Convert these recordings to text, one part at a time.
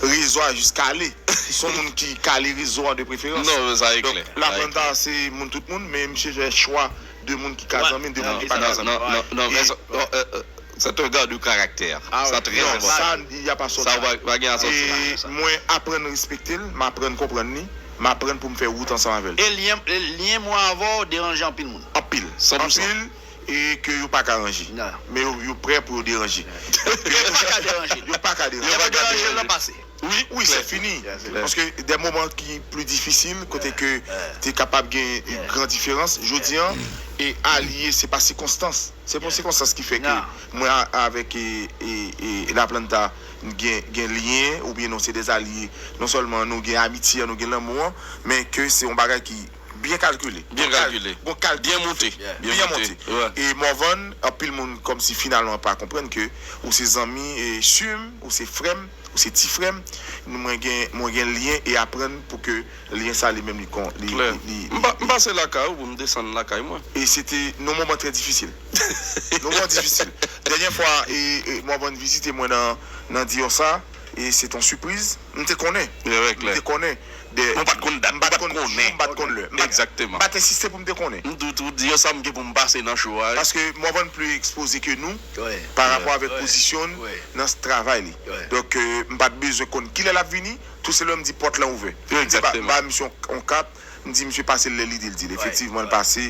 Rezo a jis kale. Se yon moun ki kale rezo an de preferans. Non, sa e klè. Donk, La Planta a se moun tout moun, men misye fè chwa de moun ki ka zanmi l, de moun ki pa ka zanmi l. Non, non, non. Sa te gad yon karaktè. Sa trè enpòtan. Non, sa li a pa sòt la. Sa pa gen asòti la nan sa. E mwen aprann respekte l, m aprann konprann li, m aprann pou m fè wout ansanm avè l. E lyen mwen avè w deranje anpil moun? Anpil. San pou san. Anpil. e ke yo pa ka ranje. Men yo yo prè pou yo deranje. Yo pa ka deranje. Yo pa ka deranje. Lè yo deranje lan pase. Wi, wi se fini. Paske de moman ki pli difisil kote ke te kapab gen gran diferans jodi an e alye se pa sikonstans. Se pa sikonstans ki fè ke mwen avèk Laplanta gen gen lyen oubyen nou se de alye. Non sèlman nou gen amitye an, nou gen lanmou an, men ke se yon bagay ki. Byen kalkile. Byen kalkile. Bon kalkile. Byen monte. Byen monte. E Morvan, anpil moun kòmsi finalman pa konprann ke ou se zanmi e su m, ou se frè m, ou se ti frè m, nou mwen gen mwen gen lyen e aprann pou ke lyen sa li menm li kon li Klè. li M pa m pase lakay ou pou m desann lakay mwen. E se te yon moman trè difisil. Yon moman difisil. Dènyè fwa e e Morvan vizite mwen nan nan Dior sa e se t yon sipriz, m te konnen. Rèk lè. M te konnen. de. Mwen pa t konn dat, m pa t konn jou, m pa t konn lè. M pa t ensiste pou m te konnen. M toujou di yo sa m gen pou m pase nan cho a. Paske Morvan plis ekspoze ke nou parapò avèk pozisyon n nan travay li. Donk m pa t bezwen konn kilè l ap vini, tou selman m di pòt lan ouvè. M ba misye yon kap, m di misye pase l lè li di l di l. Efektivman l pase.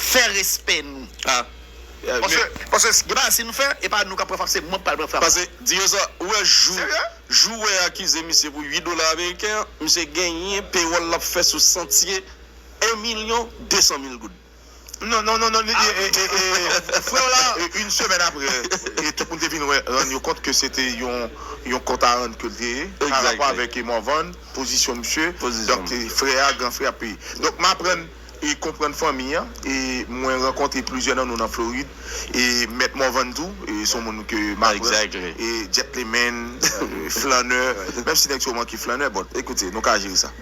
fè respè nou paske gen bagay si nou fè e pa nou kap pran frap se mwen ki pral pran frap la Dieuza ou wè jou jou wè akize misye pou 8 dola ameriken an misye genyen pewòl lap fè sou santye 1 milyon 200 mil goud non non non non ee freo la yn semèn aprè e tout moun te vin wè rann yo kont ke se te yon yon kont a rann ke li te ye pa rapò avèk Morvan pozisyon misye donk frè a gran frè ap peye donk m aprann. e konprann fanmi an e mwen rankontre plizyè nan nou nan Florid e mèt Morvan tou son moun ke m aprann e gentleman flannè menm si nèg sa yo manke flannè but ekoute nou ka jere sa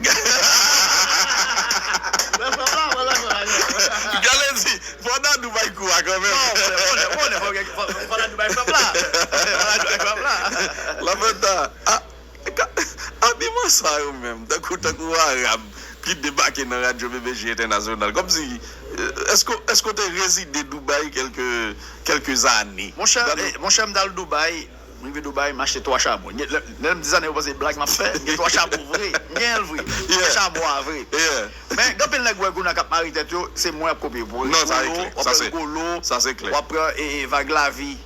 Galen di fò Dadou bay kou a kanmenm Lafonta, ah Abiman sa yo menm tankou tankou arab ki debake nan radyo BBJ entènasyonal kòmsi èske èske w te rezide Dubaï kèlke kèlke zane. Monchè monchè m t al Dubaï m rive Dubaï m achte 3 charbon lè lè m di sa nèg yo panse blag m ap fè m gen 3 charbon vre m gen l vre m gen charbon a vre men gen anpil nèg ou wè kounye a k ap mare tèt yo se mwen y ap kopye w ap pran rigolo w ap pran vag lavi.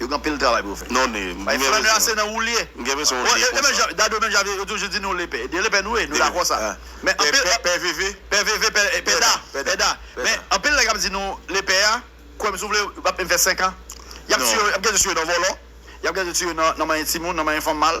Yo gen anpil travay pou yo fè. Non e m gen bezwen. Bay frè nou a se nan wou l ye. M gen bezwen w li pou sa. Dadou menm jan yo toujou di nou le pè. De le pè nou ye. Nou dakò sa. Men anpil. Pè veve. Pè veve pè pè da. Pè da. Men anpil nèg ap di nou le pè a. Kwè m si w vle m ap menm fè 5 an. Y ap tiye yo. Y ap gen de tiye yo nan vòlò. Y ap gen de tiye yo nan manyen timoun. Nan manyen fanm mal.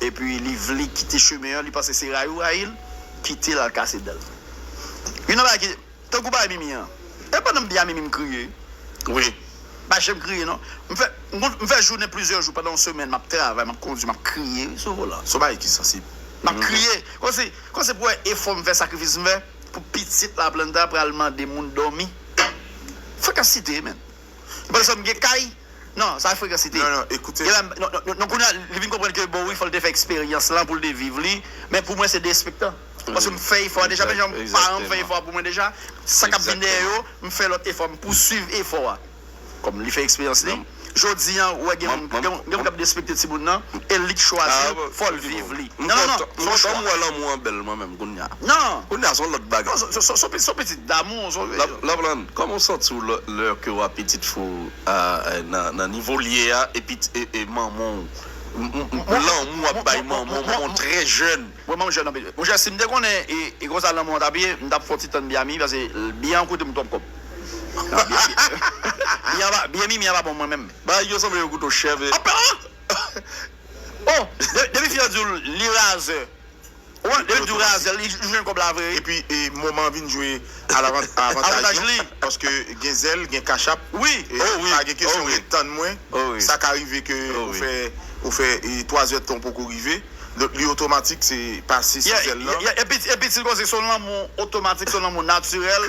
epi li vle kite chemen an li panse se rayi ou rayi l kitel al kase dan l youn nan bagay ki tankou bagay mimi an e pandan m di a mimi m kriye wi m pa janm kriye non m fè m fè jounen plizyè jou pandan yon semèn map travay map kondwi map kriye wi sou volan son bagay ki sansib map kriye kòmsi kòmsi pou wè efò m fè sakrifis m fè pou pitit laplanta pral mande moun dòmi frekasite menn. Nou pa janm gen kay? Non, sa frekansite. Non, non, ekoute. Non, kounye a, li vin konprann ke bon wi, fò l te fè eksperyans lan pou l te viv li. Men pou mwen se derespektan. Paske m fè efò a deja, menm jan paran m fè efò a pou mwen deja. Sa k ap vin dèyè yo, m fè lòt efò, m pousuiv efò a. Kòm li fè eksperyans li. Jodi an, ou wè gen moun k ap derespekte timoun nan, e li k chwazi l, fò l viv li. Non, non, non. M kontan m wè lanmou an bèl mwen menm kounye a. Non. Kounye a, s on lòt bagay. Non, s on pitit damou. Laplande, kòman w santi w lò? Leur ke wap pitit fou nan nivo l ye a epi e manman w lanmou wap bay manman w manman w trè jèn. Mwen manman m jèn anpil. Monchè si m te konnen e konsa lanmou an tap ye m tap fè yon ti tann Biami pase Bian koute m twòp kòb. Bianmimi an pa bon pou mwen menm. Bagay yo sanble yon kouto chèv. Apa! Ohh! Depi fi an di w li razè. Wi lel diw razèl li jwenn kòb la vre wi. Epi moman vin jwe avantaj li paske gen zèl gen kachap pa gen kesyon ret tann mwen sa ka rive ke ou fè 3 zè tan ou poko rive donk li otomatik se pase sou zèl lan. Epi si l konn se son lanmou otomatik son lanmou natirèl.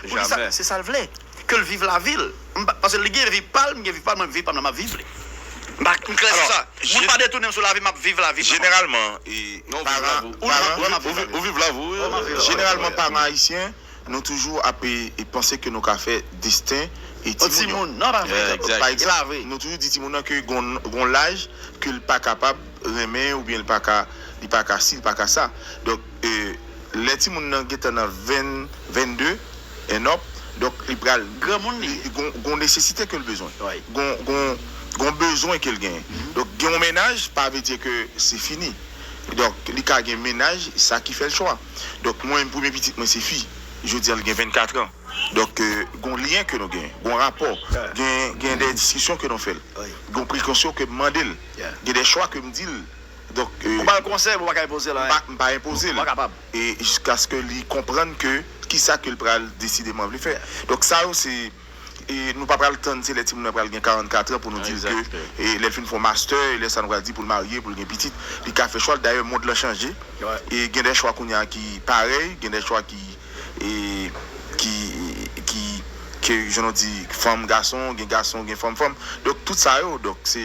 Poukisa se sal vle kel viv lavi l m pa paske li gen vi pal m gen vi pam mwen viv pam nan map viv li m pa m klè sou sa moun pa detounem sou lavi map viv lavi m jeneralman paran paran ou viv lavi w jeneralman paran ayisyen nou toujou ape panse ke nou ka fè desten e timoun yo pa egzanp nou toujou di timoun nan ke gon gon laj ke l pa kapab renmen oubyen l paka li paka si li paka sa donk. e lè timoun nan gentan nan 20, 22 and up, donk li pral, Granmoun li ye. gon, gon nesesite ke l bezwen. Wi. Gon, gon, gon bezwen ke l genyen. Donk gen yon mennaj pa vle di ke se fini. Donk li ka gen mennaj, sa ki fè l chwa. Donk mwen menm premye pitit mwen se fi. Jodi an li gen 24 an. Donk gon lyen ke nou genyen. Gon rapò. Gen, gen dè diskisyon ke nou fè l. Wi. Gon prekosyon ke m mande l. Yeah. Gen dè chwa ke m di l. Ou bal konsèy pou ou pa ka enpozel anyen. M pa enpozel. Ou pa kapab. E jiskaske li konprann ke kisa ke l pral desideman vle fè. Donk sa yo se e nou pa pral tann se lè timoun nan pral gen 44 an pou nou di l ke e lè l fin fè yon mastè e lè sa nou pral di pou l marye, pou l gen pitit. Li ka fè chwa l. Dayè mond lan chanje e gen dè chwa kounye a ki parèy, gen dè chwa ki e ki ki ke jan nou di fanm gason, gen gason gen fanm fanm. Donk tout sa yo donk se.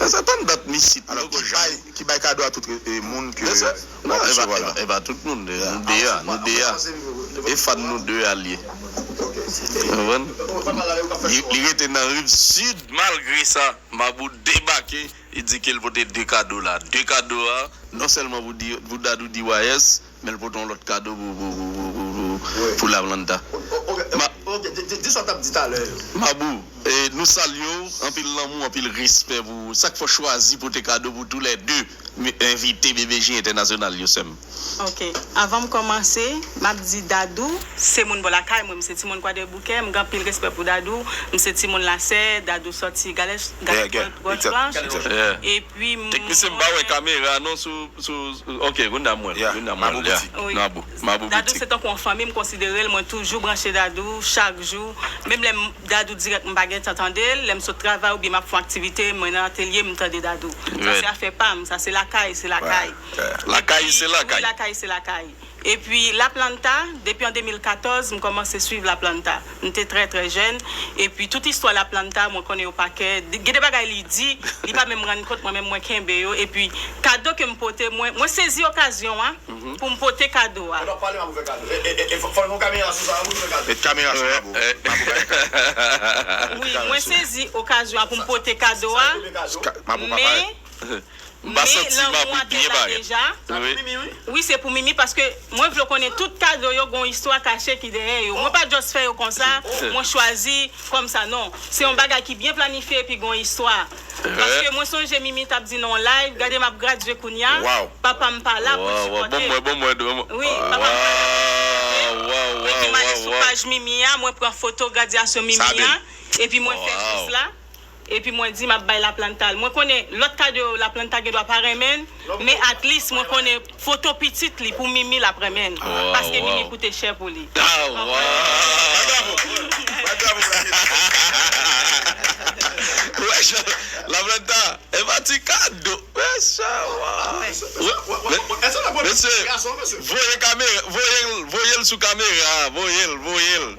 Lèsa tann dat misye t nan ki bay ki bay kado a tout moun ke wap resevwa la. Epa tout moun nou 2 a nou 2 a e fan nou 2 a liye konprann li rete nan riv sud. Malgre sa mabou debake li di kel pote 2 kado la 2 kado a non sèlman pou dadou di wayès Menl pote yon lot kado pou Lavlanda. Mabou nou salye w anpil lanmou anpil respè pou ou sak fè w chwazi pote kado pou tou lè 2 envite BBJ entènasyonal yo sèm. Ok avan m komanse map di Dadou se moun bò lakay mwen m se ti moun kwadèboukè m gen anpil respè pou Dadou m se ti moun lasè Dadou sòti galè galè pòtplanch e ui mwen. Teknisyen m pa wè kamera non sou sou ok kounya m wè l kounya m wè l ya mabou mabou boutik. Dadou se tankou yon fanmi m konsidere l mwen toujou branche Dadou chak jou menm lè m Dadou dirèk m pa gentan tande l lè m sot travay oubyen m ap fon aktivite mwen nan atelye m tande Dadou sa se afè pa m sa se lakay se lakay lakay se lakay wi lakay se lakay. Epi Laplanta, depi an 2014 m kòmanse swiv Laplanta. M te trè trè jèn, epi tout istwa Laplanta mwen konnen yo pa kè. Gen de bagay li di, li pa menm rann kont mwen menm mwen kenbe yo. Epi kado ke m pote, mwen mwen sezi okazyon a pou m pote kado a. Ou t ap pale Mapou fè kado. E e e fò fò nou kamera sou sa wi pou nou fè kado. Met kamera sou Mapou. Mapou pa gen kado. Wi mwen sezi okazyon a pou m pote kado a. Sa yo rele kado. Mapou pa parèt. Men. Mpa santi map ri byen parèt. Sa pou mimi wi. Wi se pou mimi paske mwen vle w konnen tout kado yo gon istwa kache ki dèyè yo mwen pa just fè yo konsa mwen chwazi kòm sa non se yon bagay ki byen planifye epi gon istwa paske mwen sonje mimi tap di nan yon live gade map gradye kounya papam pa la poul sipòtem wi papam pa la poul sipòtem epi male sou paj mimi a mwen pran foto gradyasyon mimi a epi mwen fè jès la Epi mwen di map bay laplanta l. Mwen konnen lòt kado yo laplanta gendwa pa renmen l, men atlis mwen konnen foto pitit li pou Mimi lap renmen l. Paske Mimi koute chè pou li. Ou wè jan laplanta epa ti kado. Mesye voye kamera voye l voye l sou kamera voye l voye l.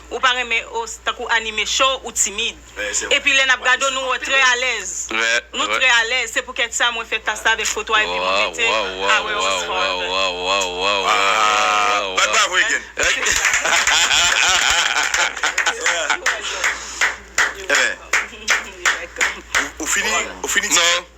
Ou pa renmen os tankou anime show ou timid epi lè nap gade w nou wè trè alèz nou trè alèz se poukèt sa mwen fè tas la avèk foto a epi mwen mete a wè os forever.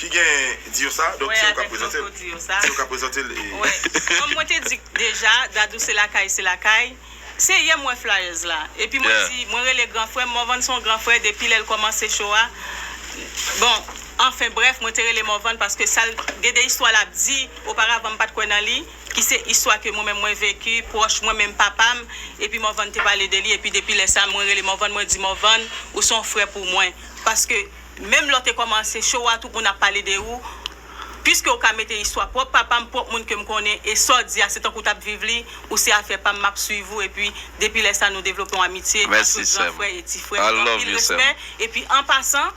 Ki gen di yo sa donk se ou kap prezante l se ou kap prezante l e. Wè kòm mwen te di deja dadou se lakay se lakay se yè m wè flyers la epi mwen di mwen rele gran frè m Morvan son gran frè depi lè l kòmanse cho a bon anfen brèf mwen te rele Morvan paske sa l gen de istwa l ap di oparavan m pat kwè nan li ki se istwa ke mwen menm mwen veki pwòch mwen menm papa m epi Morvan te pale de li epi depi lè sa mwen rele Morvan mwen di Morvan ou son frè pou mwen paske Menm lè w te kòmanse show a tout moun ap pale de ou Piske ou ka mete istwa pwòp papa m, pwòp moun ke m konnen e sa w di a se tankou w t ap viv li Ou se afè pa m, m ap swiv ou epi depi lè sa nou devlope yon amitye an tout gran frè e ti frè Anpil respè Epi an pasan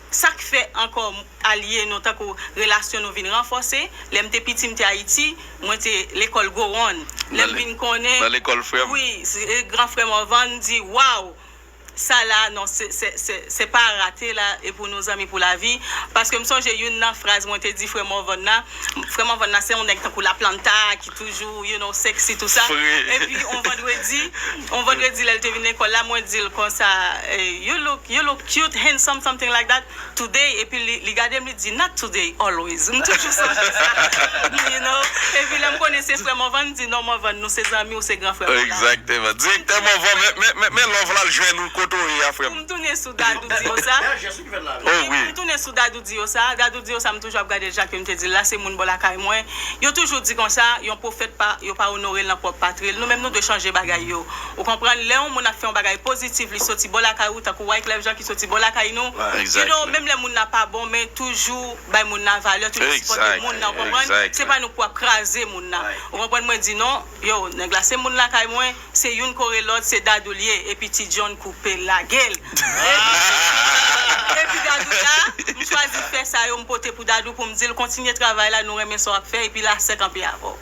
sa k fè ankò alye nou tankou relasyon nou vin ranfòse Lè m te piti m te Ayiti mwen te lekòl Gowon Lè m vin konnen Nan lekòl frè m Wi Gran frè Morvan di Waww sa la non se pa rate la e pou nou zanmi pou lavi paske m sonje youn nan fraz mwen te di frè Morvan nan frè Morvan nan se yon nèg tankou Laplanta ki toujou you know sexy tou sa epi yon vandredi yon vandredi lè l te vin lekòl la mwen di l konsa you look you look cute handsome something like that. today epi li li gadem li di not today always m toujou sonje sa you know epi lèm konnen se frè Morvan m di non Morvan nou se zanmi ou se gran frè mwen Exactement Directeur Morvan men men love la al jwenn ou kote ou ye a frèm. Poum tounen sou Dadou di yo sa Bèl jès wi ki fèt la a wi. Oh oui. Poum tounen sou Dadou di yo sa Dadou di yo sa m toujou ap gadel Jacques yo m te dil la se moun bò lakay mwen yo toujou di konsa yon pwofèt pa yo pa onorel nan pwòp patril nou menm nou dwe chanje bagay yo Ou konprann lè yon moun ap fè yon bagay positif li soti bò lakay ou tankou Wyclef Jean ki soti bò lakay nou you know menm lè moun nan pa bon men toujou bay moun nan valè toujou sipòte moun nan ou konprann se pa nou pou ap kraze moun nan ou konprann mwen di non yo nèg la se moun lakay mwen se youn kore lòt se Dadou l ye epi ti John koupe lage l epi Dadou la m chwazi fè sa yo m pote pou Dadou pou m di l kontinye travay la nou renmen sa w ap fè epi lasè kanpe avè w.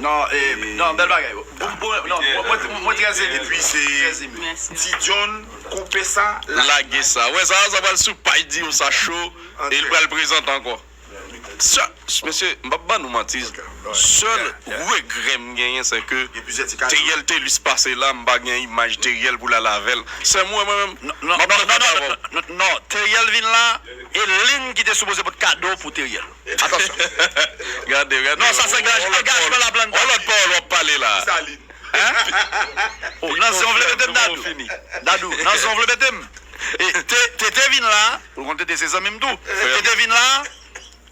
Non e non bel bagay mwen trè eme epi se ti john koupe sa lage sa wè sa sa pral sou paj di yo sa cho e li pral prezante anko mesye m pap ban nou manti sèl regrè m genyen se ke teriel telus pase la m pa gen imaj teriel pou l al avèl sèm ou wè mwen menm non non non non non teriel vin la e lin ki te sipoze pot kado pou teriel. Atansyon. Gade, gade. Non, sa se angajman la planta. On lòt pawòl wap pale la. Desalin. Hein? Nan zen w vle mete m Dadou? Dadou, nan zen w vle mete m? E, te, Tete vin la, ou konn Tete se zanmi m tou. Tete vin la,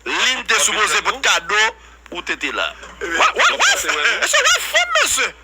Lynn te sipoze pot kado pou Tete la. Wa, wa, wa! Mesye, wa fò m mesye!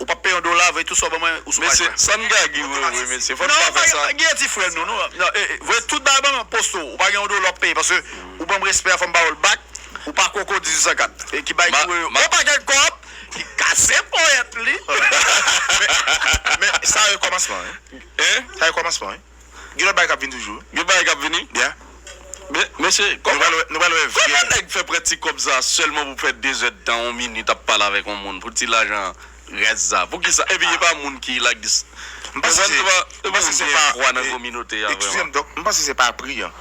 Ou pap peye yon dola vre tout sa ou ban mwen ou sou paj mwen. Mesye san gaggy wewe mesye fò nou pa fè sa. Gaggy an ti frè nou nou vre tout bagay ban mwen poste ou pa gen yon dola wap peye paske ou banm respè a fòm bawol back ou pa koko 1804 e ki bay ki wewe on pakèt kòb ki kase ponyèt li men sa yo kòmansman wi sa yo kòmansman wi. Gen lòt bagay kap vini toujou. Gen bagay kap vini bya. Mesye nou pral wè nou pral wè vye. Kòman nèg fè pran ti kòb sa sèlman pou fè 2 zèd tan on minit ap pale avèk on moun pou ti lajan rès sa poukisa epi epa moun ki like dis m panse se pa m panse se pa fwa nan kominote a vrèman m panse se pa pri an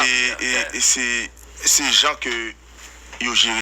e se se jan ke yo jere.